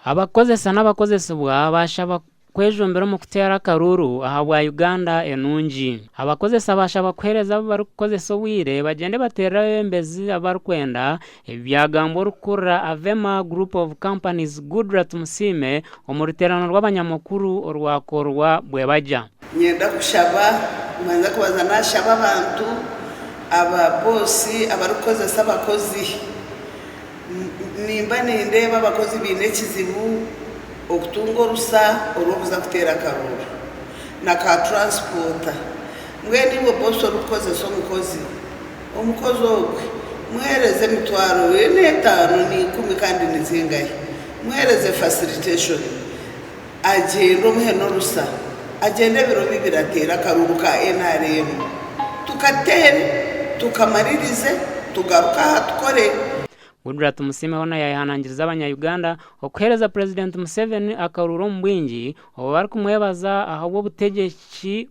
Abakukozesa n'abakozesibwa baashaba kwejumbira omu kuteera akaruuru ahabwa Uganda enungi. Abakozesa baashaba kuheereza abu barikukozesa obwire bagyende bateerere abebembezi abu barikwenda, ebi byagambwa orikukurira Avema Group of Companies Goodrat Musiime omu ruteerane rw'abanyamakuru orwakorwa Bwebagya. Niinyenda kushaba, niimbanza kubanza naashaba abantu aba boosi abarikukoresa abakozi. Nimba nindeeba abakozi baine ekizibu okutunga orusa orw'okuza kuteera akarooro na ka turansipoota. Mbwenu iwe boosi orikukoresa omukozi, omukozi ogwe muheereze emitwaro nainga etaano nainga ikumi kandi nizingahi, muheereze fasiliteshoni. Agyenda omuhe n'orusa agyende ebiro bibiri ateere akaruuru ka NRM tukateere tukamaririze tugaruke aha tukore. Goodluck Tumusiime hoona yaayehanangiriza abanya Uganda okuheereza Purezidenti Museveni akaruuru omu bwingi obu barikumwebaza ahabw'obutegyeki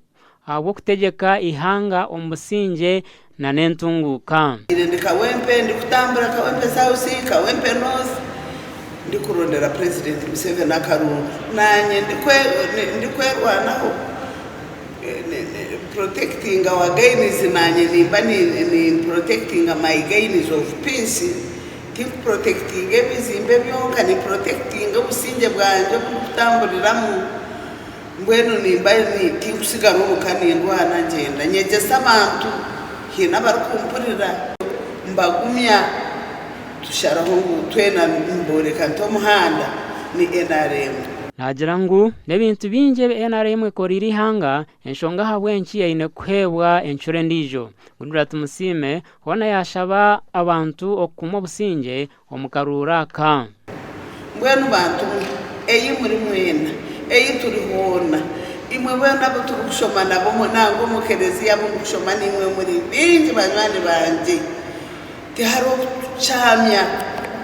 ahabw'okutegyeka eihanga omu busingye na n'entunguuka. Ire ndi Kawempe ndikutambura Kawempe South, Kawempe North ndikurondera Purezidenti Museveni akarungu naanye ndikwerwanaho protecting our gains naanye nimba ni protecting my gains of peace tinku protectinga ebizimbe byonka ni protectinga obusingye bwangye obu ndikutamburiramu Mbwenu nimba ni, tinkusigara omu ka nindwana, ngyenda nyegyesa abantu, haine abarikumpurira, mbagumya, tusharaho ngu twena nimbooreka nta omuhanda, ni nrm. Naagira ngu n'ebintu bingi ebi nrm ekoreire eihanga enshonga ahabw'enki eine kuheebwa encura endiijo. Goodluck Tumusiime hoona yaashaba abantu okukuuma obusingye omu karuuru aka. Mbwenu bantu mwe, ei muri mwena, ei turi hoona, imwe boona abu turikushoma nabo nangwa omu kelezia abu ndikushoma naimwe muri baingi banywani bangye. Tihariho kukyamya,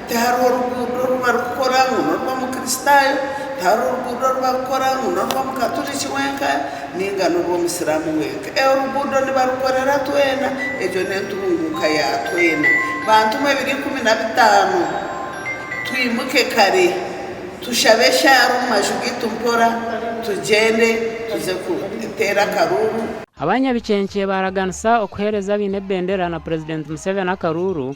tihariho ruguudo oru barikukora ngu n'orw'Omukristaayo, tihariho ruguudo oru barikukora ngu n'orw'Omukaturiki wenka, Ninga n'oba Omusiraamu wenka, oruguudo nibarukorera twena. Egyo n'entunguuka ya twena. Bantumwe ebiro ikumi na bitaano, twimuke kare, tushabe eshaara omu maju gaitu mpora, tugyende tuze kuteera akaruuru. Abanyabikyenkye baaraganisa okuheereza abaine bendera na Purezidenti Museveni akaruuru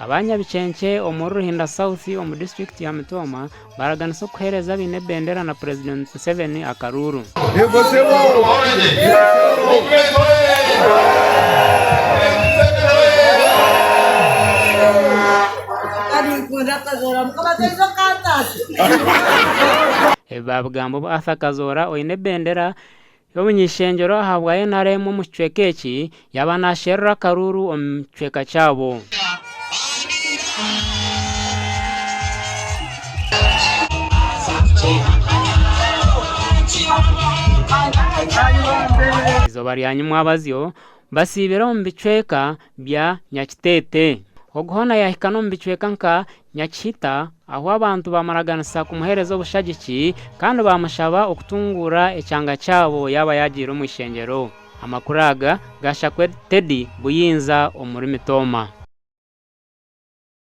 Aba Nyabikyenkye omuri Ruhinda South omu disiturikiti ya Mitooma baraganisa okuheereza abaine ebendera na Purezidenti Museveni akaruuru. Ebi baabigamba obu Arthur Kazoora oine ebendera Y'omuny'eishengyero ahabwa nrm omu kicweka eki yaaba naasherura akaruuru omu kicweka kyabo. Eizooba rya nyimwabazyo basiibire omu bicweka bya Nyakiteete. Ogu hoona yaahika n'omu bicweka nka Nyakihita ahu abantu baamuraganisa kumuheereza obushagiki kandi baamushaba okutunguura ekyanga kyabo yaaba yaagiire omu ishengyero. Amakuru aga gaashakwe Teddy Buyinza omuri Mitooma.